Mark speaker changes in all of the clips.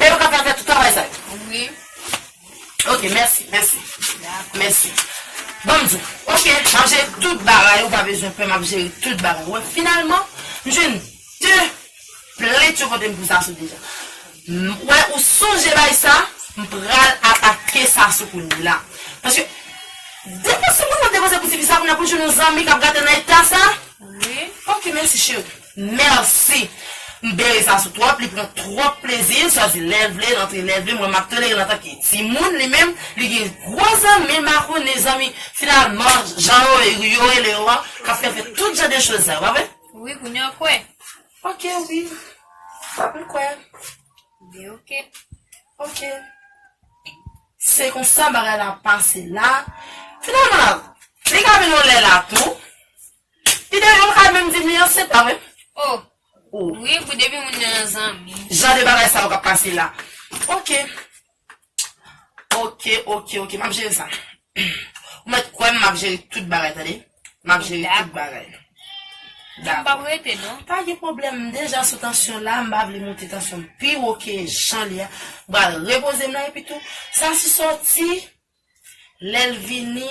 Speaker 1: Bel kap la fè tout travay sa yo. Wi. Ok mèsi mèsi. Dakò. Mèsi. Banm diw. Ok map jere tout bagay ou pa bezwen pè map jere tout bagay ou wè finalman m jwenn 2 plent yo potem pou Sassou deja m wè ou sonje bay sa m pral atake Sassou kounyela paske depoze m kontan depoze pou tifi sa kounya poul jwenn yon zanmi kap gate nan eta sa wi ok
Speaker 2: mèsi cheri.
Speaker 1: Merci M bere sa sou trop li pran trop plezi l sòti lèl vle l antre lèl vle mwen map tolere l antan ke timoun li menm li gen gwo zanmi makonnen zanmi finalman jan yo yo rele yo an kap fè fè tout jan de choz sa yo pa vre? Wi kounya w kwè.
Speaker 2: Ok wi
Speaker 1: Map m kwè. Byen
Speaker 2: ok. Ok
Speaker 1: Se konsa bagay la pase la finalman li ka vin yon lè la tou. Li te menm ka menm di li ansent la menm oh.
Speaker 2: Wi
Speaker 1: pou depi moun
Speaker 2: nan nan zanmi. Jan de bagay sa yo kap
Speaker 1: pase la ok ok ok ok map jere sa ou mèt kwèm map jere tout bagay tande map jere tout bagay
Speaker 2: dakò pa gen pwoblèm m
Speaker 1: deja sou tansyon la m pa vle moute tansyon m pi wo ke jan li a m pral repoze m nan epitou sa si sòti lèl vini.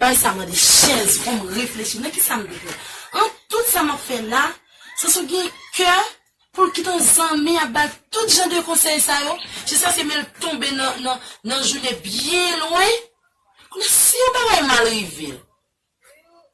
Speaker 1: Bagay sa mande chèz poum reflechi nan kisa m viv la an tout sa map fè la se sou gen kè poul kite yon zanmi ap bal tout jan de konsèy sa yo jiskaske menl tonbe nan jounen byen lwen kounye si yon bagay mal rivel.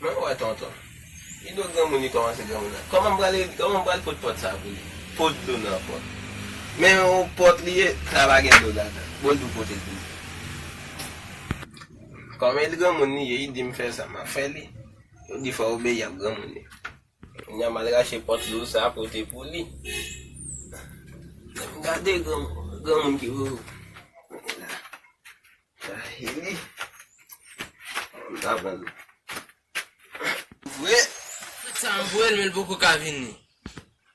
Speaker 3: Mwen wè tonton. Li do granmoun li kòmanse granmoun la. Kòman m pral ede, kòman m pral pot pòt sa pou li. Pot dlo nan pòt. Men yon pòt li ye, sa pa gen dlo ladan. Bòl dlo pote l pou li. Kòman li granmoun li ye, li di m fè sa, m ap fè li. Yo di fò obeyi ap granmoun li. Kounya mal rache pòt lou sa pote pou li. Gade granmoun ki wou. Dahili. Vre. Tout sa m voye
Speaker 4: l men l poko ka vini.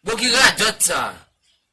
Speaker 4: Bon ki radòt sa.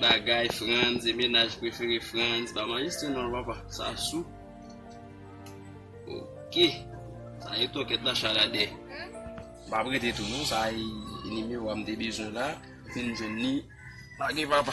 Speaker 5: Bagay Frantz e menaj prefere Frantz pa manje se non papa Sasou Ok Sa e tokèt la chalade M ap rete tou non sa e nimewo a m te bezwen la m fin jwenn li Pa gen papa.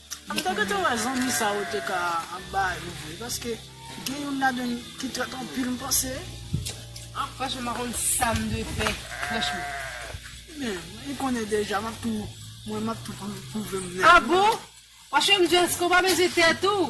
Speaker 2: M ta gentan
Speaker 6: wè zanmi sa yo te ka ap ba yo vre paske gen youn ladann ki trèt anpil m panse. Ah
Speaker 2: franchman m pa konn sam dwe fè franchman.
Speaker 6: Men li konnen deja map tou mwen map tou pwouvem nèt. Ah bon!
Speaker 2: Franchman m di eske w pa peze tèt ou?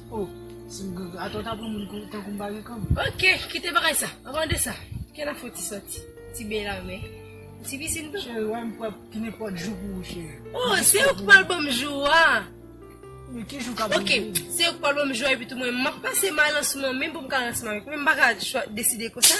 Speaker 2: Oh si m
Speaker 6: gen ata w ta pran moun kou tankou m pa gen kan. Ok kite bagay
Speaker 2: sa an ban de sa ke nap foti soti ti bey la men ou ti pisin tou. Cheri wèm prè pou
Speaker 6: nenpòt jou pou ou cheri. Oh se ou ki pral
Speaker 2: ban m jou a. Men ki
Speaker 6: jou kap rive. Ok se ou ki pral
Speaker 2: ban m jou a epi tou mwen map pase m a lansman menm pou m ka lansman avèk ou men m paka deside konsa.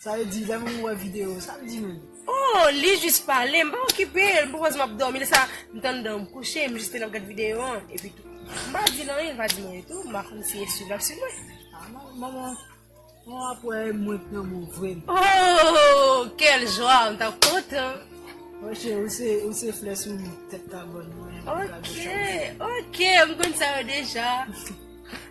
Speaker 2: Sa vle di lè moun
Speaker 6: wè video sa l di menm? Oh li jis
Speaker 2: pale m pa okipe l m poko di map domi lè sa m t andan m kouche m jis te nan gad video an epi tou m pa di l anyen l pa di m anyen tou m pa konn si e swiv lap swiv mwen. Ah manman
Speaker 6: Manman ap wè mwen t nan mou vre. Ooh
Speaker 2: quel joie m tap kontan. Mwen che
Speaker 6: ou se ou se flè sou tèt kabòn mwen.
Speaker 2: Ok ok m konn sa yo deja.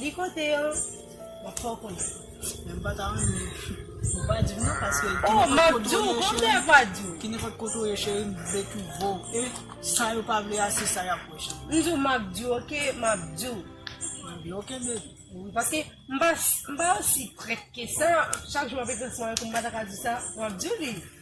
Speaker 2: Li kote yo? Mwen pa konnen. Mwen pa ta
Speaker 6: renmen pou pa di m nan paske ki nenpòt kote ou ye cheri. Oh, map di w,
Speaker 2: konbyen ak pa di w? Ki nenpòt kote ou ye cheri,
Speaker 6: m vle twouve w e sa yo pa vle a se sa y ap wè
Speaker 2: cheri.
Speaker 6: M di w map di w ok, map di
Speaker 2: w.
Speaker 6: Mwen di
Speaker 2: ok
Speaker 6: baby. Wi
Speaker 2: paske m pa osi prèt ke sa, chak jou map ekriti mari pou m pa ta ka di sa, map di w li.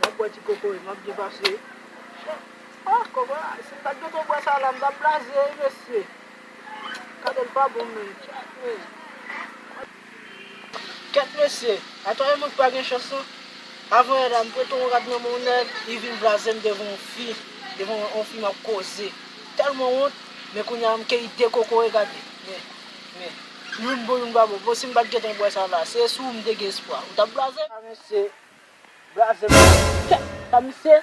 Speaker 6: Map bwè ti koko e map byen pase. Ah koko a si m pat gen tan bwè sa la m tap blaze wi mesye. Kado l pa bon menm tchakmèy. Kèt mesye, atò e mwen ki pa gen chans lan. Avan yè la m prete yon rad nan men yon nèg li vin blaze m devan yon fi, devan yon fi map koze. Tèlman wont, men kounya m keyi 2 koko e gade. Men, men, youn bon youn pa bon. Bon si m pat gen tan bwè sa la, se sou ou m te gen espwa. Ou tap blaze? Ah mesye, Braze mwen anpil kèt sa misye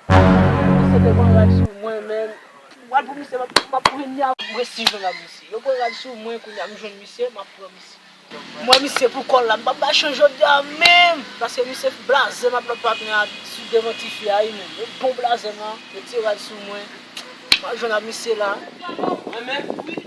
Speaker 6: Misye te pran rad sou mwen menn Rad pou misye map pran li avèm Mwen si jwenn ak misye Yo pran rad sou mwen kounya m jwenn misye map pran misye M wè misye pou kòl la m pap bay chans jodia menm Paske misye blaze m ak lòt patnè a sou devan tifi a wi menn Yo bon blaze m lan Yo ti rad sou mwen Map
Speaker 3: jwenn
Speaker 6: ak misye la Mwen menm wi.